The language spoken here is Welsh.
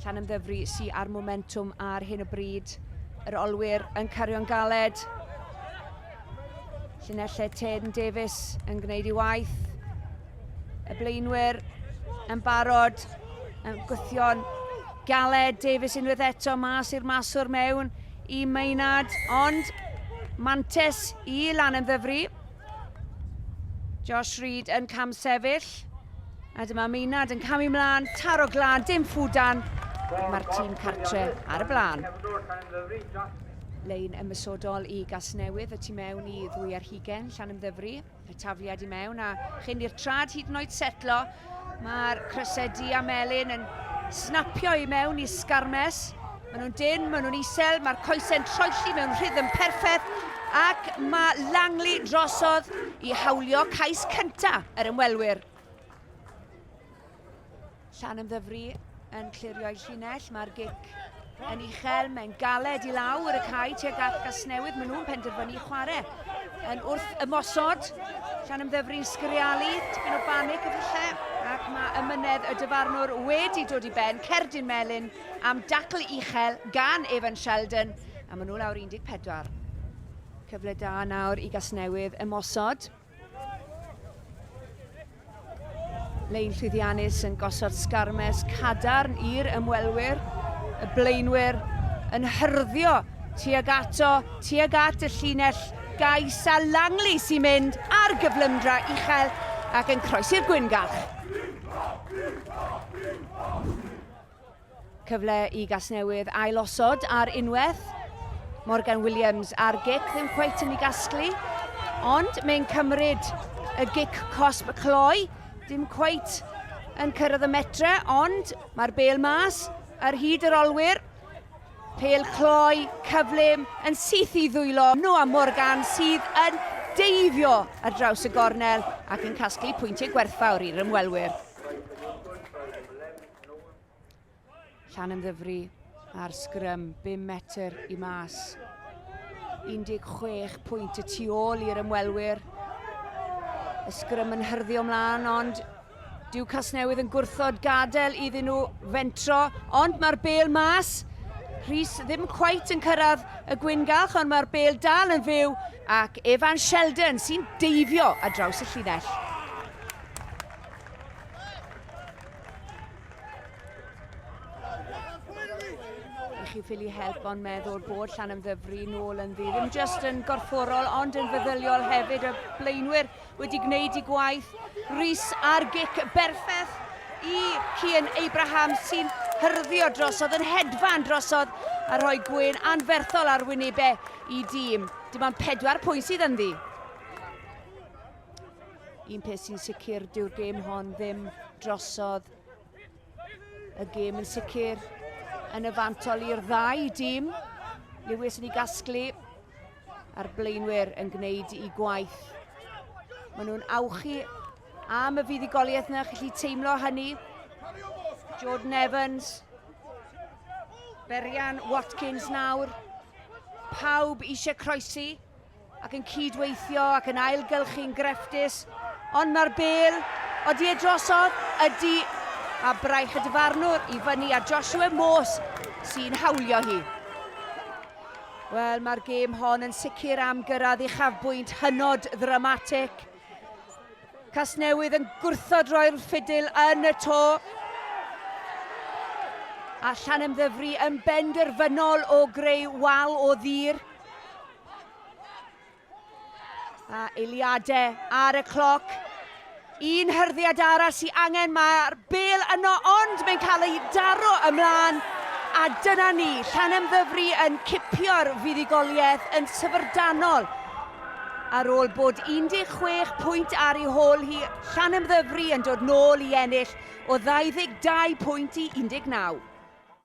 Llanymddyfri sy ar momentwm ar hyn o bryd. Yr olwyr yn cario'n galed. Llinelle Tedn Davies yn gwneud ei waith. Y blaenwyr yn barod, yn gwythio'n galed. Davies unwaith eto mas i'r maswr mewn i Maynard, ond mantes i lan yn ddyfru. Josh Reid yn cam sefyll. A dyma Meinad yn camu mlaen, taro glân, dim ffwdan. Mae'r tîm cartre ar y blaen. Lein ymysodol i Gasnewydd y tu mewn i ddwy ar hugen Llanymddyfri. Y tafliad i mewn a chyn i'r trad hyd yn oed setlo, Mae'r crysau du a melyn yn snapio i mewn i Sgarmes. Maen nhw'n dyn, maen nhw'n isel, mae'r coesau'n troelli mewn rhythm perffaith ac mae Langley drosodd i hawlio cais cyntaf yr ymwelwyr. Llan ymddyfru yn clirio'i llinell, mae'r gic yn uchel, mae'n galed i lawr y cae tuag at Gasnewydd, maen nhw'n penderfynu chwarae yn wrth ymosod, llan ymddyfru'n sgrialu, tipyn o banic y lle, ac mae ymynedd y dyfarnwr wedi dod i ben, cerdyn melyn am dacl uchel gan Evan Sheldon, a maen nhw lawr 14. Cyfle da nawr i Gasnewydd ymosod. Lein llwyddiannus yn gosod sgarmes cadarn i'r ymwelwyr. Y blaenwyr yn hyrddio tuag ato, tuag at y llinell gais a Langley sy'n mynd ar gyflymdra uchel ac yn croesi'r gwyngach. Cyfle i Gasnewydd ailosod ar unwaith. Morgan Williams ar gic, ddim cweit yn ei gasglu. Ond mae'n cymryd y gic cosb cloi, dim cweit yn cyrraedd y metre, ond mae'r bel mas ar hyd yr olwyr. Pel cloi, cyflym, yn syth i ddwylo. Noah Morgan sydd yn deifio ar draws y gornel ac yn casglu pwyntiau gwerthfawr i'r ymwelwyr. Llan ymddyfri ar sgrym, 5 metr i mas. 16 pwynt y tu ôl i'r ymwelwyr. Y sgrym yn hyrddio mlaen, ond dyw Casnewydd yn gwrthod gadael iddyn nhw fentro, ond mae'r bel mas. Rhys ddim cweit yn cyrraedd y gwyngalch, ond mae'r bel dal yn fyw, ac Evan Sheldon sy'n deifio a draws y llinell. chi ffili help ond meddwl bod llan yn ddyfru nôl yn ddi. Ddim just yn gorfforol ond yn feddyliol hefyd y blaenwyr wedi gwneud i gwaith. Rhys ar gic berffeth i Cian Abraham sy'n hyrddio drosodd yn hedfan drosodd a rhoi gwyn anferthol ar wynebau i dîm. Dim ond pedwar pwynt sydd ynddi. Un peth sy'n sicr, dyw'r gêm hon ddim drosodd. Y gêm yn sicr yn y fantol i'r ddau dîm. Lewis yn ei gasglu a'r blaenwyr yn gwneud i gwaith. Maen nhw'n awchu am y fuddugoliaeth yna, chi teimlo hynny. Jordan Evans, Berian Watkins nawr. Pawb eisiau croesi, ac yn cyd-weithio ac yn ailgylchu'n grefftus, ond mae'r bêl, odi e drosodd? Ydi, a braich y dyfarnwr i fyny a Joshua Morse sy'n hawlio hi. Wel, mae'r gêm hon yn sicr am gyrraedd uchafbwynt hynod ddramatic. Casnewydd yn gwrthod roi'r ffidil yn y to. A Llanemddyfri yn benderfynol o greu wal o ddir. A eiliadau ar y cloc. Un hyrddiad arall sy'n angen, mae'r bel yno, ond mae'n cael ei daro ymlaen. A dyna ni, Llanemddyfri yn cipio'r fuddugoliaeth yn syfrdanol. Ar ôl bod 16 pwynt ar ei hôl hi, Llanemddyfri yn dod nôl i ennill o 22 pwynt i 19.